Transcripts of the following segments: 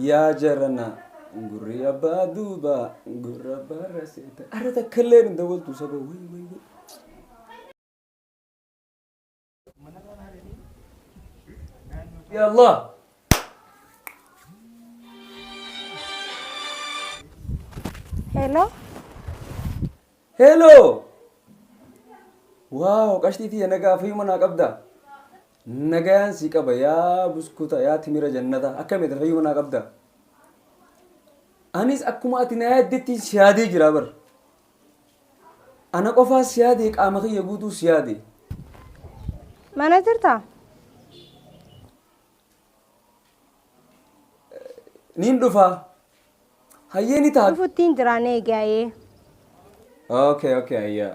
Yaa jaranaa gurri abbaa duubaa gurra abbaa raseeta. Arra takka illee hin dawwaltu saba way way way. Ya Allah. Hello. Hello. Waaw qashtii tiyya nagaa fayyuma naa qabda. Nagayaan sii qaba yaa buskuta yaa timira jannata akkami ati fayyuma naa qabda anis akkuma ati naa yaaddetti si yaadee jira bar ana qofaa si yaadee qaama kiyya guutuu si yaadee Mana jirtaa? niin dhufaa hayyee ni ta'a Dhufuttiin jiraan eegaayee. okay okay ayyaa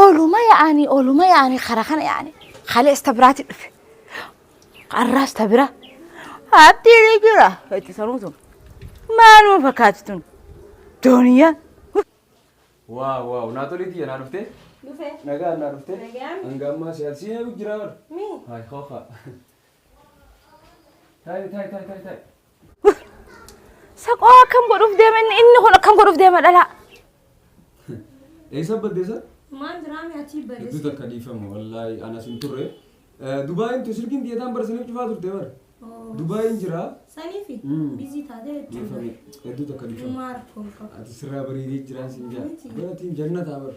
Ooluma yaa'anii ooluma yaa'anii karaa kana yaa'anii haala ista biraatti dhufe. Har'aa ista bira. Haatti ni jira. Itti saruu sun. Maaluma fakkaatti tun. Dooniyaa. Waa waa naa tolii tiyya naa dhuftee. Dhufee. Nagaa naa dhuftee. Nagaan. Hanga ammaa siyaasiin eegu jira bara. Mii. Haay hookaa. Taa'e taa'e taa'e taa'e taa'e. Saqoo akkam godhuuf deema inni inni kun akkam godhuuf deema dhalaa. Eessa badde isa? Maal diraame achii Hedduu badees. takka dhiifama wallaahi anas hin turre. Eh, Dubaayiin tu sirkiin biyyataan barsaniif cufaa turte bara. Dubaayiin jira. Saniifi Mm. bizii taatee jechuudha. Dhiifame hedduu takka dhiifama. Maal kolfa. Ati sirraa bareedee jiraan siin jaa. Miti. Baratiin jannataa bara.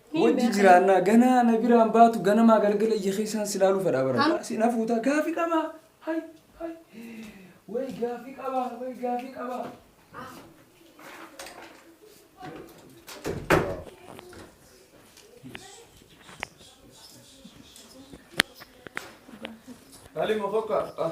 Wajji jiraannaa ganaa na biraan baatu ganamaa galgala ija keessaan si laaluu fedhaa bara. Am- Si na fuutaa gaafi qabaa. Hay hay. Way gaafi qabaa way gaafi qabaa. Halima kokka. Ah.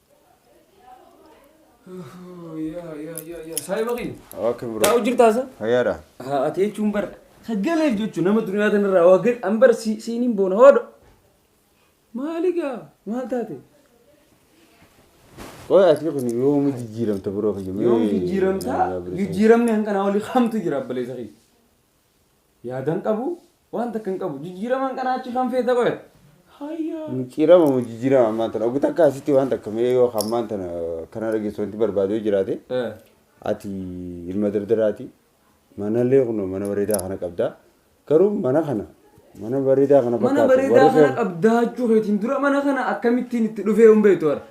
Saahiba kiyya. Okay bro. Taa'u jirtaa sa? Fayyaadha. Haa ati jechuun bar sagaleef jechuun nama duniyaa tanarraa waa gad an bar si- siiniin boona hoodho. Maali gaa maal taate? Qoy ati kun yoom jijjiiramta bro kiyya. Yoom jijjiiramtaa? Jijjiiramni hanqanaa olii kamtu jira abbaleessa kiyya. Yaada hin qabu, waan takka hin qabu. Jijjiiramaan kanaa achi kan feete qoya. Hayyaa. Micciirama moo jijjiirama ammaan tana? Oguu takka asitti waan takka mee yoo kan ammaan tana kana dhageessu wanti barbaadu yoo jiraate Eh. ati ilma dardaraati. Manallee kunoo mana bareedaa kana qabda. Garuu mana kana mana bareedaa kana Mana fakkaatu bareedaa warri kana kee- qabdaa jechuu keetiin dura mana kana akkamittiin itti dhufee hin beektu bara.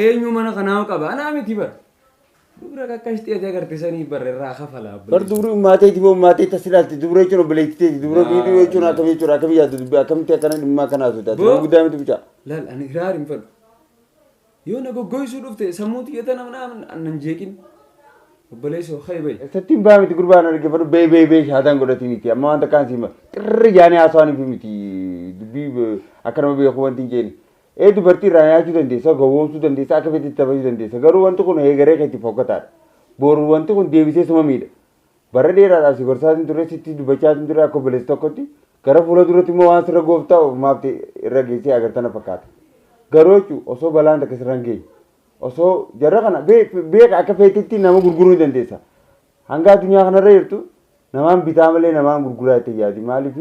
Eenyu mana kanaa qaba? Anaa miti bara. Dubra kakashti ati agarte sani bar irraa kafala Bar abballeessu. dubri ummaa teeti moo ummaa teeti asi ilaalti dubra jechuun obboleetti teeti dubra Laa, biiduu jechuun laa. akkami jechuudha akkami yaaddu dubbi akkamitti akkana dhimma akkana haasofta ati Boo. nama guddaa miti mucaa. Laal ani hiraar hin fadhu. Yoo na goggoysuu dhufte sammuu tiyya tana mana nan jeeqin. Obboleessoo ka'e ba'i. Sattiin baa miti gurbaan argifadhu bee bee bee shaadaan godhati miti amma waan takkaan siima xirri jaanii haasawaan fi miti dubbii be- akka nama beeku wanti hin jeeni Ee dubartii irraa nyaachuu dandeessa, gowwoomsuu dandeessa, akka feetetti taphachuu dandeessa. Garuu wanti kun heegaree keetiif fokkataadha. Boru wanti kun deebisee suma miidha. Bara dheeraadhaaf si gorsaatiin ture, sitti dubbachaatiin ture akka obboleessa tokkotti. Gara fuula duratti immoo waan sirra goof ta'u maaf irra geessee agarta na fakkaata. Garuu jechu osoo balaan takka sirra hin geenye. Osoo jarra kana beeka akka feetetti nama gurguruu ni dandeessa. Hanga addunyaa kanarra jirtu namaan bitaa malee namaan gurguraa jettee hin yaadin. Maaliif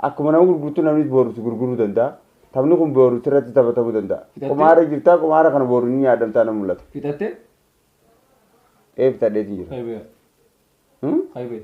akkuma nama gurgurtu namnis booru si gurguruu danda'a. Taphni kun booru sirratti taphatamuu danda'a. Fixattee? Qumaarra jirta, qumaara kana booru ni nyaadhamtaa nan mul'ata. Fixatte? Ee fixadheetiin jira. Kaybee. Hmm? Kaybee.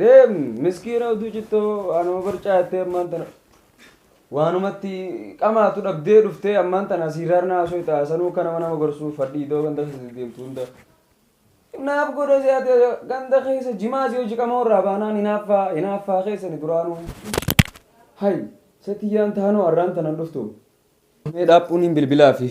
Deem miskiina uduu cittoo waanuma barcaa jettee ammaan tana waanumatti qamaatu dhabdee dhuftee ammaan tana siiraarna haasoo itti haasanuu akka nama nama gorsuu fadhii iddoo ganda keessa deemtu hunda. Naaf godha si'aati ganda keessa jimaa si hojii qamoo irraa baanaan hinaaffaa hinaaffaa keessani duraanuu. Hay satiyyaan taanoo arraan tanan dhuftu. Mee dhaaphuun hin bilbilaa fi